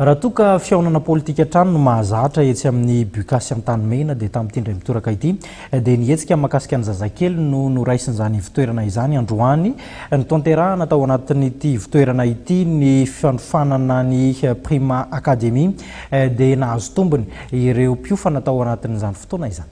Raha toa ka fihaonana politika hatrany no mahazatra etsy amin'ny Bucas Antanimena dia tamin'ity indray mitoraka ity dia ny hetsika mahakasika ny zazakely no noraisin'izany ivotoerana izany androany. Notanterahana tao anatin'ity ivotoerana ity ny fanofanana ny Prima Academy dia nahazo tombony ireo mpiofana tao anatin'izany fotoana izany.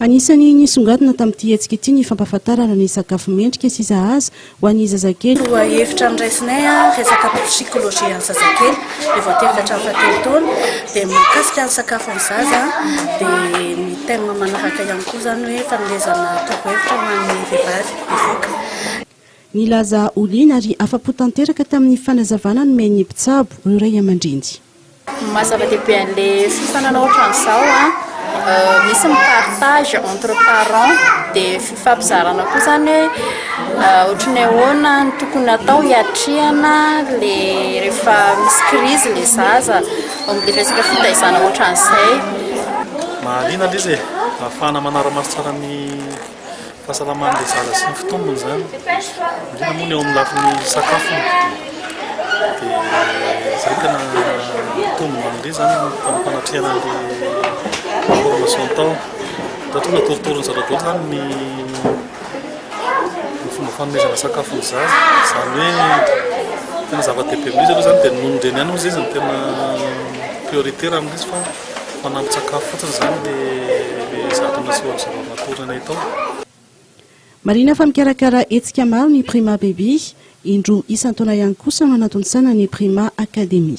Anisan'ny nisongadina tamin'ity hetsika ity ny fampahafantarana ny sakafo mendrika sy sahaza ho an'ny zazakely. Lohahevitra noraisinay, resaka psikolojian'ny zazakely dia voatery ka hatramin'ny fahatelo taona dia mikasika ny sakafo ny zaza dia ny thème manaraka ihany koa izany hoe fanomezana torohevitra ho an'ny vehivavy bevoka. Nilaza ho liana ary afa-po tanteraka tamin'ny fanazavana nomen'ny mpitsabo ny ray aman-dreny. Ny maha zava-dehibe an'ilay fifaninanana ohatran'izao, misy ny partage entre parents, dia fifampizarana koa izany hoe ohatry ny ahoana no tokony hatao hiatrehana ilay rehefa misy krizy ilay zaza, momba ilay resaka fitaizana ohatran'izay. Mahaliana ilay izy e! Ahafahana manara-maso tsara ny. fahasalaman'ilay zaza sy ny fitombony izany, indrindra moa ny eo amin'ny lafiny sakafony dia izay tena mitombina amin'ilay izany ny fanatrehana an'ilay formation atao. Ohatra hoe natoritorin'ny zaza daholo izany ny ny fomba fanomezana sakafo ny zaza, izany hoe tena zava-dehibe amin'ilay izy aloha izany dia ny nonon-dreniny ihany hoy izy izy no tena prioritaire amin'ilay izy fa Fanampin-tsakafo fotsiny izany ilay zato nasehon'i Zara matory anay tao. Marihina fa mikarakara hetsika maro ny Prima Baby, indroa isan-taona ihany kosa no ananton-tsaina ny Prima Academy.